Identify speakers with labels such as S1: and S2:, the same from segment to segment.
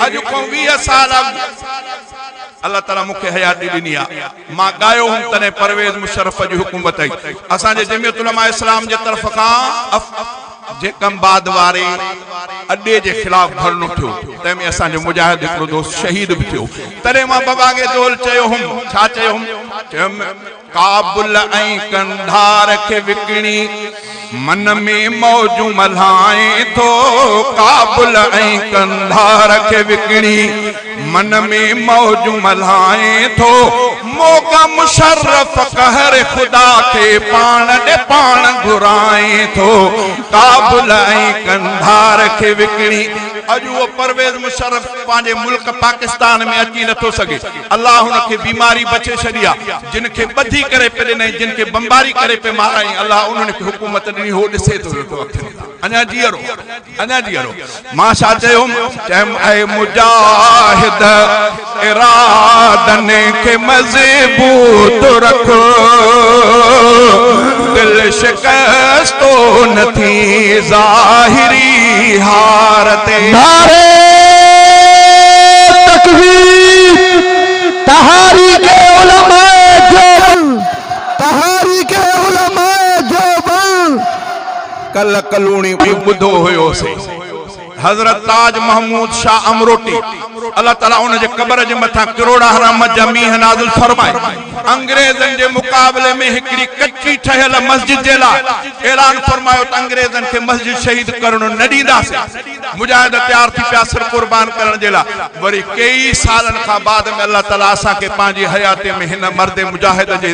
S1: اڄ کان ويهه سال اڳ الله تعالي مون کي حياتي ڏني آ مان ڳايو هوم تڏهن پرويز مشرف جي حڪومت هئي اسان جي جمعيت علماء اسلام جي طرف کان اف جي ڪمباد واري اڏي جي خلاف ڌرڻو ٿيو تنهن ۾ اسان جو مجاهد هڪڙو دوست شهيد به ٿيو تڏهن مان بباگي دول چيو هوم ڇا چيو هوم چيو هوم ڪابل ۽ قنڌار کي وڪڻي من ۾ موجون ملهائين ٿو ڪابل ۽ قنڌار کي وڪڻي من ۾ موجون ملهائين ٿو موقع مشرف قهر خدا کي پاڻ ڏي پاڻ گهرائين ٿو ڪابل ۽ قنڌار کي وڪڻي اڄ اهو پرويز مشرف پنهنجي ملڪ پاڪستان ۾ اچي نٿو سگهي الله ان کي بيماري بڇي ڇڏي آ جن کي ٻڌي ڪري پي ڏنائين جن کي بمباري ڪري پي مارائين الله انهن کي حڪومت ڏني هو ڏسي ٿو ويٺو اکين سان اڃا جيئرو اڃا جيئرو مان ڇا چيم چيم اي مجاهد ارادن کي مضبوط رک دل شڪستو نه ٿي ظاهري هار تي. نعري
S2: تڪبير تحاريڪ علماء ديوبند تحاريڪ علماء ديوبند. ڪلهه
S1: ڪلهوڻي ٻڌو هيو سي. حضرت تاج محمود شاهه امروٽي الله تعالي ان جي قبر جي مٿان ڪروڙها رحمت جا مينهن نازل فرمائي انگريزن جي مقابلي ۾ هڪڙي ڪچي ٺهيل مسجد جي لاء اعلان فرمايو ته انگريزن کي مسجد شهيد ڪرڻ نه ڏينداسين مجاهد تيار ٿي پيا سر قربان ڪرڻ جي لاء وري ڪيئي سالن کان بعد ۾ الله تعالي اسان کي پنهنجي حياتي ۾ هن مرد مجاهد جي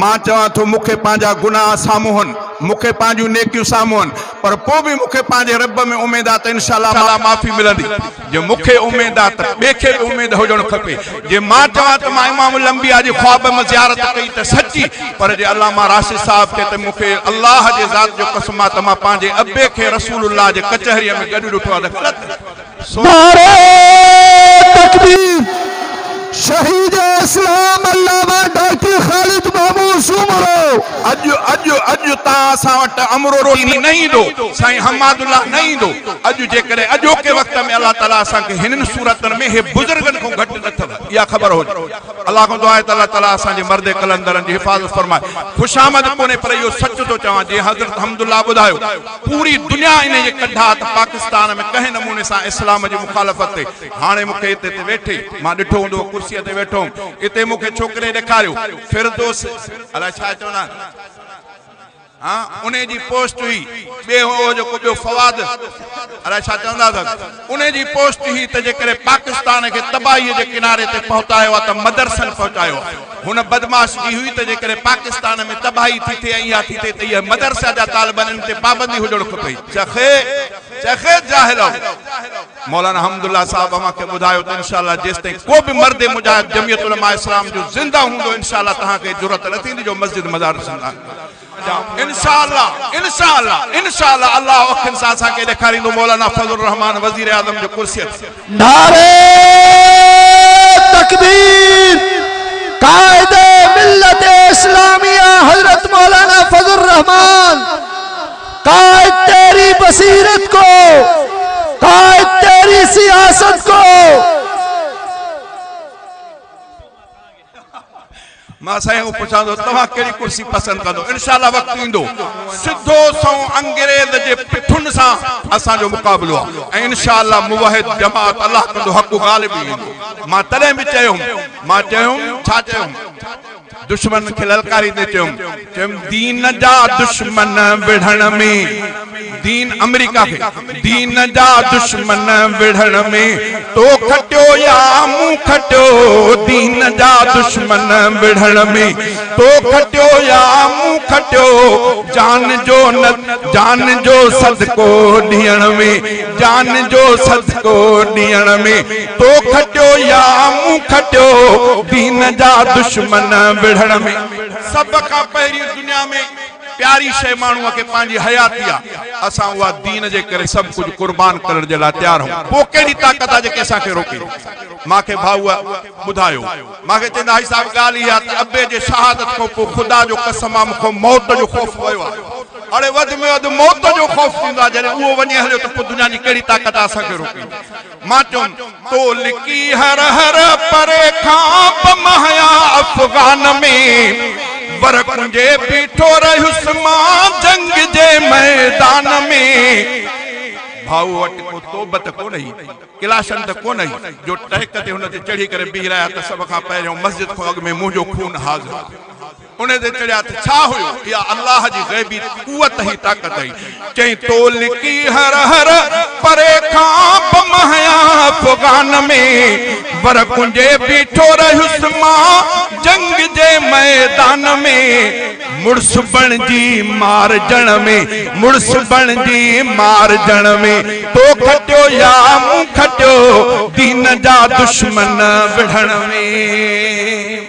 S1: مان چوان ٿو مون کي پنهنجا گناهه سامهون، مون کي پنهنجون نيڪيون سامهون، پر پوء به مون کي پنهنجي رب ۾ اميد آهي ته ان شاء الله معافي ملندي. جي مون کي اميد آهي ته ٻئي کي به اميد هجڻ کپي. جي مان چوان ته مان امام الانبياء جي خواب ۾ زيارت ڪئي ته سچي، پر جي علامه راشد صاحب چئي ته مون کي الله جي ذات جو قسم آهي ته مان پنهنجي ابي کي رسول الله جي ڪچهريء ۾ گڏ ڏٺو آهي ته غلط؟ نعري
S2: تڪبير، شهيد اسلام علامه ڊاڪٽر خالد محمود سومرو. اڄ اڄ اڄ تان
S1: اسان وٽ امرو روحاني نه ايندو، سائين حماد الله نه ايندو، اڄ جيڪڏهن اڄوڪي وقت ۾ الله تعالي اسان کي هنن صورتن ۾ هي بزرگن کون گهٽ نه اٿو اها خبر هجي الله کان دعا آهي ته الله تعالي اسان جي مرد قلندرن جي حفاظت فرمائي خوش آمد ڪونهي پر اهو سچ ٿو چوان جيئن حضرت حمد الله ٻڌايو پوري دنيا انهيء جي ڪنڍا ته پاڪستان ۾ ڪنهن نموني سان اسلام جي مخالفت تي هاڻي مون کي اتي تي ويٺي مان ڏٺو هوندو ڪرسيء تي ويٺو هوم اتي مون کي ڇوڪري ڏيکاريو فردوس الاء ڇا چوندا آهن هان انهيء جي پوسٽ هئي ٻئي هو جو ڪو ٻيو فواد الاء ڇا چوندا اٿس. انهي جي پوسٽ هئي ته جيڪڏهن پاڪستان کي تباهيء جي ڪناري تي پهتايو آ ته مدرسن پهچايو آ. هن بدمعاش جي هئي ته جيڪڏهن پاڪستان ۾ تباهي ٿي ٿئي ۽ اها ٿي ٿئي ته اهي مدرسا جا طالبان ان تي پابندي هجڻ کپي. چخي چخي جاهلؤ. مولانا حمد الله صاحب اوهان کي ٻڌايو ته انشاء الله جيستائين ڪو به مرد مجاهد جمعيت علماء اسلام جو زنده هوندو انشاء الله توهان کي جرئت نه ٿيندي جو مسجد مدارس انشاءالله انشاءالله انشاءالله الله اکين سان اسان کي ڏيکاريندو مولانا فضل الرحمان وزيراعظم جو ڪرسيء تي. نعري
S2: تڪبير قائد ملت اسلاميه حضرت مولانا فضل الرحمان قائد تيري بصيرت کو قائد تيري سياست کو.
S1: مان سائين کان پڇان ٿو توهان ڪهڙي ڪرسي پسند ڪندو انشاء الله وقت ايندو سڌو سنئون انگريز جي پٺن سان اسان جو مقابلو آهي ۽ انشاء الله موحد جماعت الله ڪندو حق غالب ئي ايندو مان تڏهن به چيو هوم مان چيو هوم ڇا چيو هوم دشمنن کي للڪاريندي چيو هوم چيم دين جا دشمن وڙهڻ ۾، دين آمريڪا کي، دين جا دشمن وڙهڻ ۾، تو کٽيو يا مون کٽيو، دين جا دشمن وڙهڻ ۾، تو کٽيو يا مون کٽيو، جان جو جان جو صدقو ڏيڻ ۾، جان جو صدقو ڏيڻ ۾، تو کٽيو يا مون کٽيو، دين جا دشمن وڙهڻ ۾. سڀ کان پهرين دنيا ۾ پياري شيء ماڻهوء کي پنهنجي حياتي آ، اسان اها دين جي ڪري سڀ ڪجهه قربان ڪرڻ جي لاء تيار آهيون، پوء ڪهڙي طاقت آ جيڪي اسان کي روڪي؟ مان کي ڀائوء ٻڌايو. مان کي چوندي هائي صاحب ڳالهه اها آ ته ابي جي شهادت کان پوء خدا جو قسم آ مون کان موت جو خوف ويو آ. اڙي وڌ ۾ وڌ موت جو خوف ٿيندو آ، جڏهن اهو وڃي هليو ته پوء دنيا جي ڪهڙي طاقت آ اسان کي روڪي؟ مان چيم تو لڪي هر هر پري کان پم هيا افغان ۾ ور ڪنجي بيٺو رهيس مان جنگ جي ميدان ۾ ڀائو وٽ ڪو توب ته ڪونه هئي ڪلاشن ته ڪونه هئي جو ٽهڪ تي هن تي چڙهي ڪري بيهي رهيا ته سڀ کان پهريون مسجد کان اڳ ۾ منهنجو خون حاضر هو. انهي تي چڙهيا ته ڇا هيو؟ اها الله جي غيبي قوت هئي، طاقت هئي. چيائين، تو لڪي هر هر پري کان به مهيا افغان ۾، ور ڪنجهي بيٺو رهيس مان جنگ جي ميدان ۾، مڙس بڻجي مارجڻ ۾، مڙس بڻجي مارجڻ ۾، تو کٽيو يا مون کٽيو، دين جا دشمن وڙهڻ ۾.